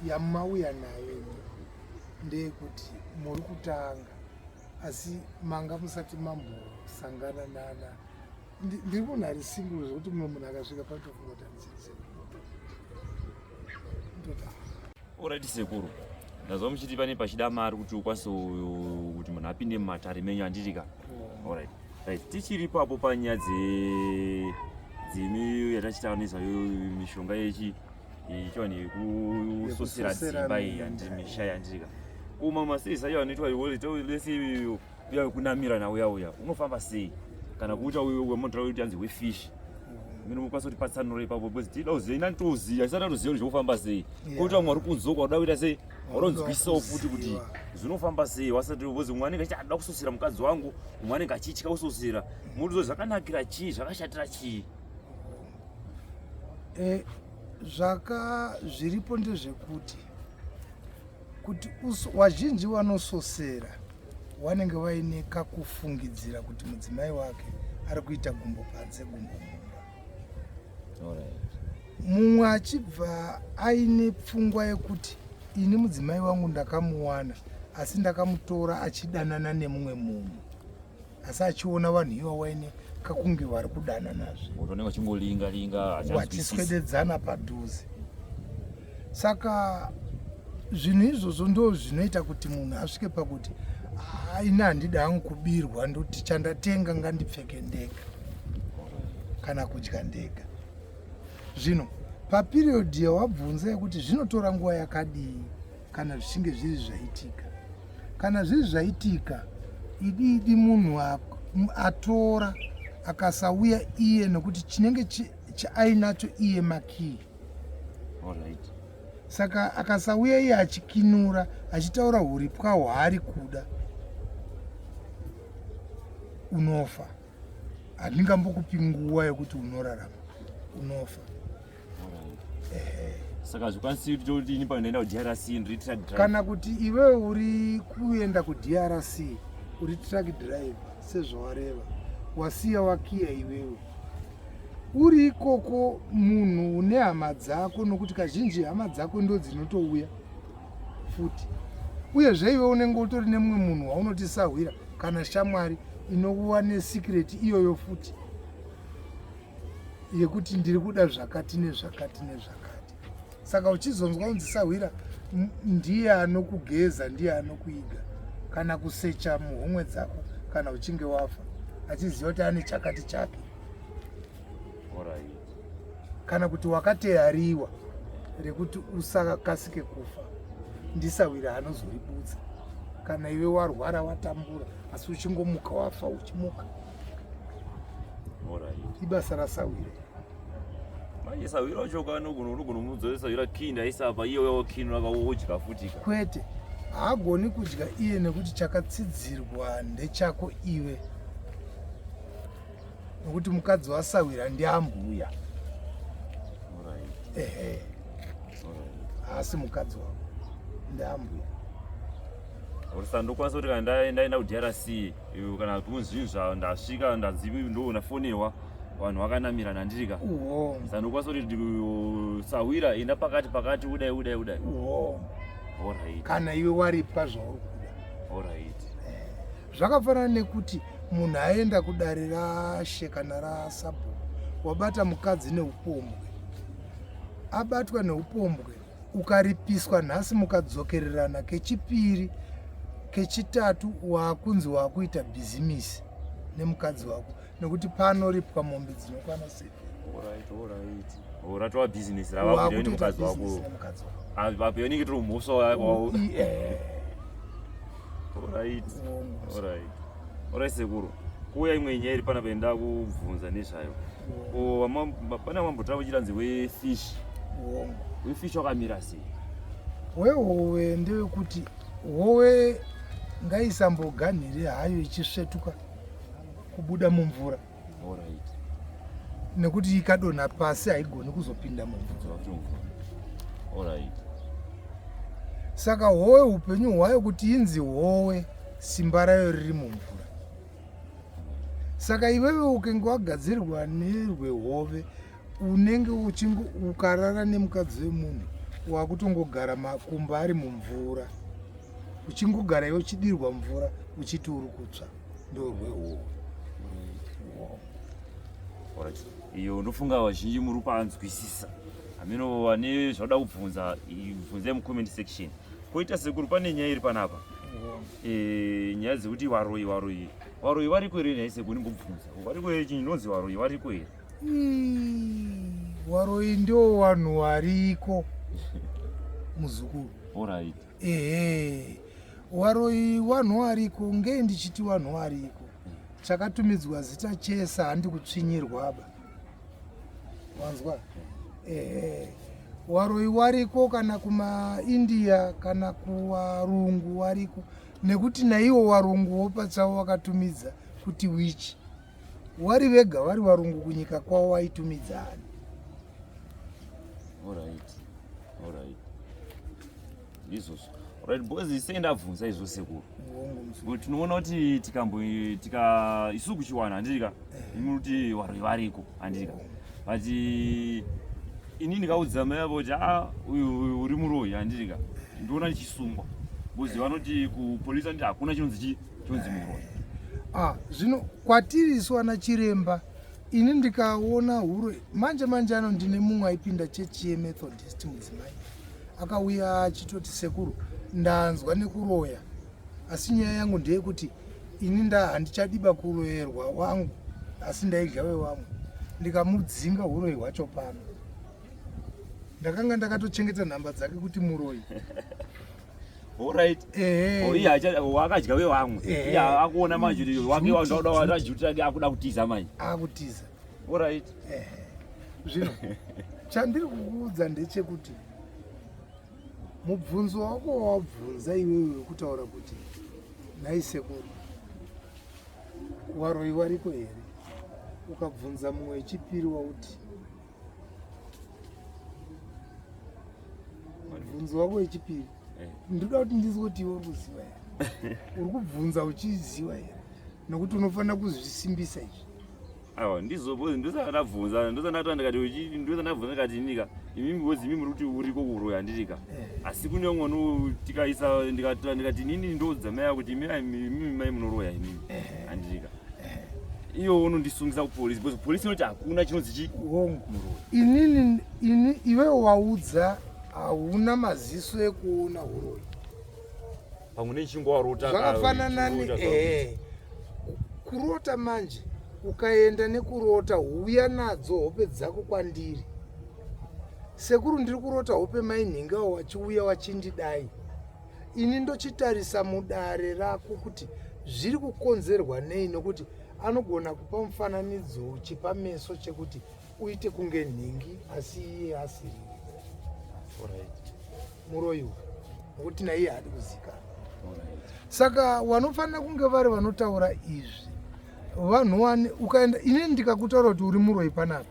yamauya nayo ndeyekuti muri kutanga asi manga musati mambosangana nana ndiri munhu ari single zvekuti mumwe munhu akasvika patofunga kuti anisese Alright sekuru. Ndazwa muchiti pane pachida mari kuti ukwanise kuti munhu apinde mumatare menyu andiri ka. Alright. Right. Tichiri papo panyaya dze dzimi yatachitaura nezvayo mishonga yechi ichoni yekusosera dzimba iyi yandiri misha yandiri ka. Kuma masei sayo anoitwa iwo lesi uya wekunamira nauya uya unofamba sei kana kuuta uyo wemotora uyo tianzi wefish mino mukwanisa kuti patsanura ipapo because tinoda kuziva inani toziva tisati atoziva kuti zvekufamba sei kuita mwari kunzwa kwakuda kuita sei waronzwisawo futi kuti zvinofamba sei wasati because mumwe anenge achida kusosera mukadzi wangu mumwe anenge achitya kusosera murudzo zvakanakira chii zvakashatira chii eh, zvaka zviripo ndezvekuti kuti wazhinji wanososera wanenge waine kakufungidzira kuti mudzimai wake ari kuita gumbo panze gumbo mumba mumwe achibva aine pfungwa yekuti ini mudzimai wangu ndakamuwana asi ndakamutora achidanana nemumwe munhu asi achiona vanhu iva waine kakunge vari kudananazve utooneka chingolinga linga vachiswededzana padhuze saka zvinhu izvozvo ndo zvinoita kuti munhu asvike pakuti aine handida hangu kubirwa ndoti chandatenga ngandipfeke ndega kana kudya ndega zvino papiriyodhi yawabvunza yekuti zvinotora nguva yakadii kana zvichinge zviri zvaitika kana zviri zvaitika idi idi munhu atora akasauya iye nokuti chinenge chaainacho iye makii right. saka akasauya iye achikinura achitaura huripwa hwaari kuda unofa handingambokupi nguva yokuti unorarama unofa saka zvikwanisi kuti toti ini panoenda kudrc ndiri truck driver kana kuti iwewe uri kuenda kudrc uri truck driver sezvawareva wasiya wakiya iwewe uri ikoko munhu une hama dzako nokuti kazhinji hama dzako ndo dzinotouya futi uyezve iwe unenge utori nemumwe munhu waunotisahwira kana shamwari inokuva nesikireti iyoyo futi yekuti ndiri kuda zvakati nezvakati nezvakati saka uchizonzwa kunzi sahwira ndiye anokugeza ndiye anokuiga kana kusecha muhomwe dzako kana uchinge wafa achiziva kuti ane chakati chake kana kuti wakateyariwa rekuti usakasike kufa ndisahwira anozoribudza kana iwe warwara watambura asi uchingomuka wafa uchimuka ibasa rasawira manje sawira wacho ukanogona unogona kumudzora sawira kini aisa apa iye uyawo kini wakaodya futi kwete haagoni kudya iye nekuti chakatsidzirwa ndechako iwe nokuti mukadzi wasawira ndiambuya ehe haasi mukadzi wavo ndiambuya or saka ndokwanisa kuti kana ndaenda kudrc kana kunzvinhu zvavo ndasvika ndanzi ndoona fonewa vanhu vakanamirana ndirika saka ndokwanisa kuti sahwira enda pakati pakati udai udai udai orit kana iwe waripa zvauri kuda orit eh, zvakafanana nekuti munhu aenda kudare rashe kana rasabhu wabata mukadzi neupombwe abatwa neupombwe ukaripiswa nhasi mukadzokererana kechipiri kechitatu wakunzi wakuita bhizimisi nemukadzi wako nekuti panoripwa mombe dzinokwana seoratoa bhizinesi ravakuita nemukadzi wako apo yonenge tiri mhosva wako Alright. Alright. Alright sekuru. Kuya imwe nyaya iri pana penda kubvunza nezvayo. Ko pana mambotaura kuchiranzi we fish. Wongo. We fish wakamira sei? We howe ndewe kuti howe ngaisamboganhire hayo ichisvetuka kubuda mumvura. nekuti ikadonha pasi haigoni kuzopinda mumvura saka howe upenyu hwayo kuti inzi howe simba rayo riri mumvura saka iwewe ukenge wagadzirirwa nerwehove unenge uchinge ukarara nemukadzi wemunhu wakutongogara makumba ari mumvura uchingogara iwe uchidirwa mvura uchiti uri kutsva iyo ndofunga vazhinji muri panzwisisa hameno vane zvauda kubvunza bvunzai mucomment section koita sekuru pane nyaya iri panapa eh, nyaya dzekuti varoyi varoyi varoyi variko here nhai sekuru ndimbobvunza variko here chinonzi varoyi variko here waroyi ndio vanhu variko muzukuru orit ehe waroi wanhu wariko ngei ndichiti wanhu wariko chakatumidzwa zita chese handi kutsvinyirwaba wanzwa ehe waroi wariko kana kumaindia kana kuwarungu wariko nekuti naiwo warunguwo pachavo wakatumidza kuti wichi wari vega vari varungu kunyika kwavo vaitumidzani izvozvo right because isei ndabvunza izvo sekuru but tinoona kuti tikambo tika isu kuchiwana handirika eh. imi kuti varoi variko handirika but ini ndikaudza mai avo kuti a ah, uyu uri muroi handirika eh. ndoona ndichisungwa because vanoti kupolisi anditi hakuna chinonzi chii Tonzi muroyi. Ah, zvino kwatiri isu ana chiremba ini ndikaona huro manje manje ano ndine mumwe aipinda chechi yemethodist mudzimai akauya achitoti sekuru ndanzwa nekuroya asi nyaya yangu ndeyekuti ini nda handichadiba kuroyerwa wangu asi ndaidya wewamwe ndikamudzinga uroyi hwacho pano ndakanga ndakatochengeta nhamba dzake kuti muroyi wakadya wevamwe akuona manje wake wajuti ake akuda kutiza manje akutiza orit zvino chandiri kukuudza ndechekuti mubvunzo wako wawabvunza iwewe wekutaura kuti nhai sekuru waroyi wariko here ukabvunza mumwe wechipiri wauti mubvunzo wako wechipiri eh. ndoda kuti ndizwe kuti iwe uri kuziva here uri kubvunza uchiziva here nokuti unofanira kuzvisimbisa izvi awa ndizobozi ndosandabvunza ndosandatoa ndikati ndosandabvunza ndikati inika imimi bozi imimi rikuti uriko kuroya handirika eh. asi kune umwe ndikaisa ndikati inini ndoudza mai kuti imimi mai munoroya imimi eh. handirika iwo unondisungisa kupolisi because polisi inoti hakuna chinonzi chii hongu inini ini iwe waudza hauna maziso ekuona uroyi pamwe nechingo warota zvakafanana ni ehe kurota manje ukaenda nekurota huya nadzo hope dzako kwandiri sekuru ndiri kurota hope mainhingawo wachiuya wachindidai ini ndochitarisa mudare rako kuti zviri kukonzerwa nei nokuti anogona kupa mufananidzo chepameso chekuti uite kunge nhingi asi iye asiri muroyi uyu nokuti naiye haadi kuzikana saka wanofanira kunge vari vanotaura izvi vanhu wani ukaenda ini ndikakutaura kuti uri muroyi panapa